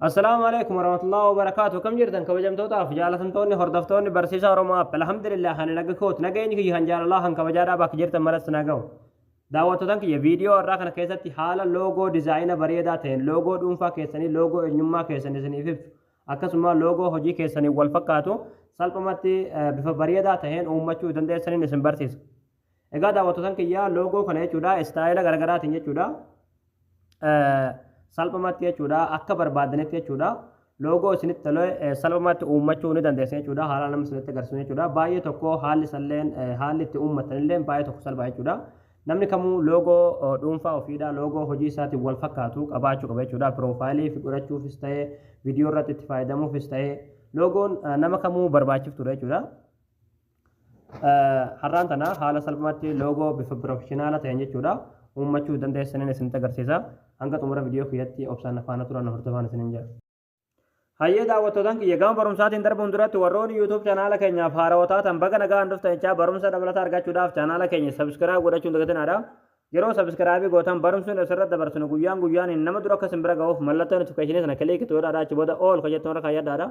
Assalaamu alaikum warahmatullahi wabarakatuh kam jirtan kabajamtootaaf jaalatamtoonni hordoftoonni barsiisaa Oromoo app alhamdulillah kan naga koot nageenyi kiyya kan jaalalaa kan kabajaadhaa bakka jirtan maratti nagahu daawwattootan kiyya viidiyoo irraa kana keessatti haala loogoo dizaayina bareedaa ta'een loogoo dhuunfaa keessanii loogoo eenyummaa keessan isiniif ibsu akkasuma loogoo hojii keessanii wal fakkaatu salphumatti bifa bareedaa ta'een uummachuu dandeessaniin isin barsiisa. Egaa daawwattotan kiyya loogoo kana jechuudha istaayila garaagaraatiin jechuudha salphumatti jechuudha akka barbaadanitti jechuudha loogoo isinitti tole salphumatti uummachuu ni dandeessu jechuudha haala nama isinitti agarsiisu jechuudha baay'ee tokko haalli isalleen haalli itti uummatanillee baay'ee tokko salphaa jechuudha namni kamuu loogoo dhuunfaa ofiidha loogoo hojii isaatiin wal fakkaatu qabaachuu qaba jechuudha piroofaayilii fi godhachuufis ta'ee viidiyoo irratti itti fayyadamuufis ta'ee loogoon nama kamuu barbaachiftuudha jechuudha. Har'aan tana haala salphaatti loogoo bifa pirofeshinaala ta'een jechuudha uummachuu dandeessaniin isinitti agarsiisa. Hanga xumura viidiyoo kiyyatti obsaan afaana turan hordofaan isiniin jedha. Hayyee daawwattootaan kiyya gama barumsaatiin darbuun duratti warroonni YouTube chaanaala keenyaaf haarawaa taatan baga nagaan dhuftan jechaa barumsa dabalataa argachuudhaaf chaanaala keenya sabiskiraayib godhachuun dagatinaadha. Yeroo sabiskiraayibii gootan barumsi nuti asirratti dabarsinu guyyaan guyyaan nama dura akka isin bira ga'uuf mallattoo notifikashinii sana kiliikitu yoo dhaadaa achi booda ool kan jettu irra kaayyadhaadha.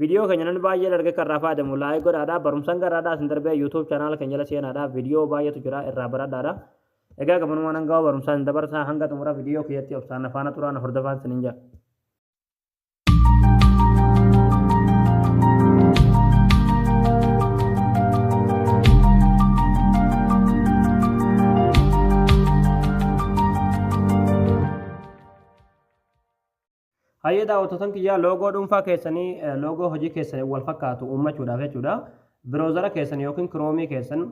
Video keenya namni baay'een arge kan irraa fayyadamu like godhaadha. Barumsan garaadhaa isin darbee YouTube channel keenya jala seenaadha. Video baay'eetu jira irraa baradhaadha. Egaa gamanuma nan gawa barumsaa isin dabarsaa hanga xumura video kiyyatti obsaan na faana turaa na hordofaan isin hin jedha. Hayyee daawwattotan kiyyaa loogoo dhuunfaa keessanii loogoo hojii keessaniin wal fakkaatu uummachuudhaaf jechuudha. Biroozara keessan yookiin kiroomii keessan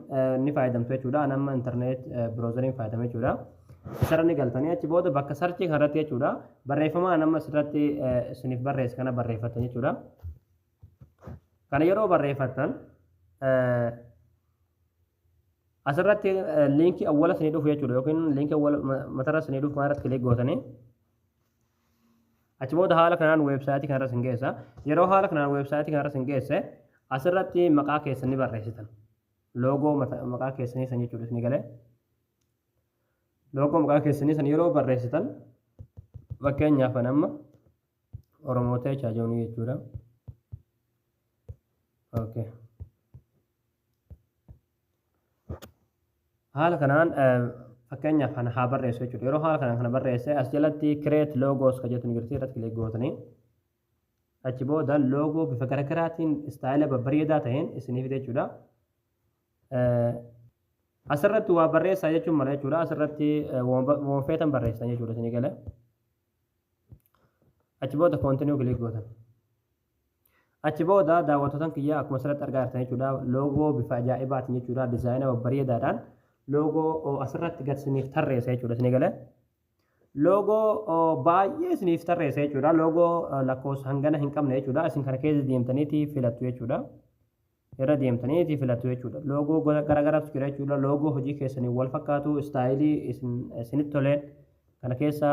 ni fayyadamtu jechuudha. An amma intarneet biroozariin fayyadame jechuudha. Isarra ni galtanii achi booda bakka sarchii kanarratti jechuudha. Barreeffama an amma asirratti isiniif barreesse kana barreeffattan jechuudha. Kana yeroo barreeffattan asirratti liinkii awwala isinii dhufu jechuudha yookiin liinkii awwala matarra isinii dhufu kanarratti kilik gootanii Achi booda haala kanaan weebsaayitii kanarra sin geessa. Yeroo haala kanaan weebsaayitii kanarra sin geesse asirratti maqaa keessan ni barreessitan. Loogoo maqaa keessanii san jechuudha isin galee. Loogoo maqaa keessanii san yeroo barreessitan fakkeenyaaf kan amma Oromoo ta'e chaajoonii jechuudha. Okay. haala kanaan fakkeenyaaf kana haa barreessu jechuudha yeroo haala kanaan kana barreesse as jalatti create logos ka jettu ni jirti irratti kilik gootanii achi booda loogoo bifa garaagaraatiin istaayila babbareedaa ta'een isiniif jechuudha asirratti waa barreessaa jechuun mala jechuudha asirratti wanfeetan barreessan jechuudha isinii gala achi booda koontinuu kilik gootan Achi booda daawwattootan kiyya akkuma asirratti argaa jirtan jechuudha loogoo bifa ajaa'ibaatiin jechuudha dizaayina babbareedaadhaan loogoo asirratti gad isiniif tarreessa jechuudha isin eegale. Loogoo baay'ee isiniif tarreessa jechuudha loogoo lakkoofsa hangana hin qabne jechuudha isin kana keessa deemtaniiti filattu jechuudha. irra deemtanii itii filattu jechuudha. Loogoo gosa garagaraatu jira jechuudha. Loogoo hojii keessaniin wal fakkaatu istaayilii isinitti toleen kana keessa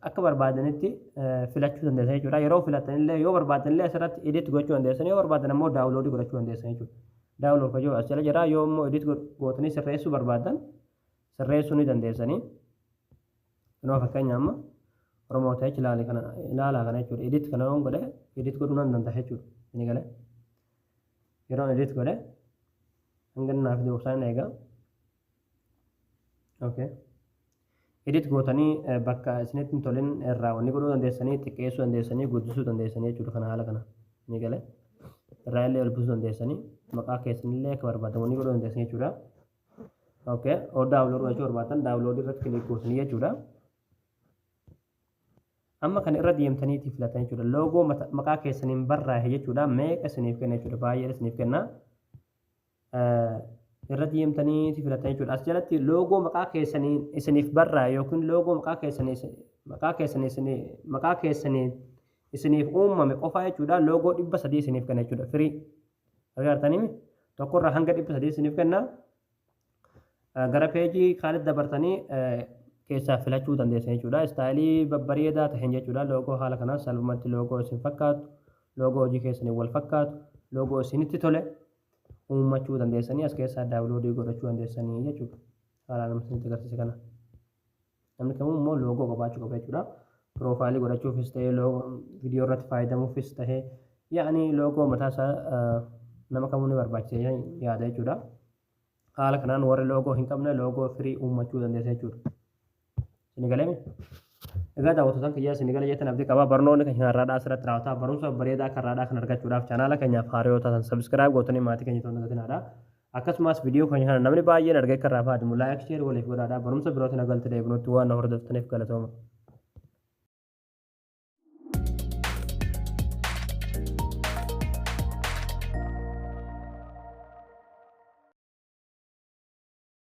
akka barbaadanitti filachuu dandeessan jechuudha. Yeroo filattan illee yoo barbaaddan illee asirratti edit gochuu dandeessan yoo barbaaddan ammoo daawuloodii godhachuu dandeessan jechuudha. Daawulood kan jiru as jala jira yoo immoo edit gootanii sirreessuu barbaaddan sirreessuu ni dandeessanii. Kunoo fakkeenya amma Oromoo ta'e ilaali kana ilaalaa kana jechuudha. Edit kana yoon godhe edit godhuu nan danda'a jechuudha. Inni galee yeroon edit godhe hanga inni naaf duubsaa hin eegaa. Okay. Edit gootanii bakka isinitti hin tolin irraa wanni godhuu dandeessanii xiqqeessuu dandeessanii guddisuu dandeessanii jechuudha kana haala kana. Inni galee irraa illee ol buusuu dandeessanii maqaa keessanillee akka barbaadamu wanni godhuu dandeessanii jechuudha. okay oo daawunloodii gochuu barbaaddan daawunloodii irratti kiliik gootanii jechuudha amma kana irra deemtaniitii filatan jechuudha loogoo maqaa keessaniin barraa'e jechuudha meeqa isiniif kenna jechuudha baay'ee isiniif kenna irra deemtaniitii filatan jechuudha as jalatti loogoo maqaa keessaniin isiniif barraa'e yookiin loogoo maqaa keessanii maqaa keessanii isinii maqaa keessanii isiniif uumame qofaa jechuudha loogoo dhibba sadii isiniif kenna jechuudha firii Argaartanii miti? Tokkorraa hanga dhibba sadii isiniif kenna. Gara peejii kaanitti dabartanii keessaa filachuu dandeessan jechuudha. Istaayilii babbareedaa ta'een jechuudha. Loogoo haala kanaan salphumatti loogoo isin fakkaatu, loogoo hojii keessaniin wal fakkaatu, loogoo isinitti tole uummachuu dandeessanii as keessaa daawuloodii godhachuu dandeessanii jechuudha. Haalaan isinitti agarsiise kana. Namni kamuu immoo loogoo qabaachuu qaba jechuudha. Piroofaayilii godhachuufis ta'ee viidiyoo irratti faayadamuufis ta'ee yaani loogoo mataa isaa nama kamuu ni barbaachisa yaada jechuudha. Haala kanaan warri loogoo hin qabne loogoo firii uummachuu dandeessa jechuudha. Isin galame? Egaa daawwattoota kiyya isin gala jettan abdii qaba. Barnoonni keenya har'aadhaa asirratti raawwata. Barumsa bareedaa akka har'aadhaa kan argachuudhaaf chaanaala keenyaaf haariyoo taatan sabiskiraayib gootanii maatii keenya ta'uun dagatinaadha. Akkasumas video keenya kana namni baay'een argee akka irraa fayyadamu like share waliif godhaadha. Barumsa birootiin agalti deebinutti waan na hordoftaniif galatooma.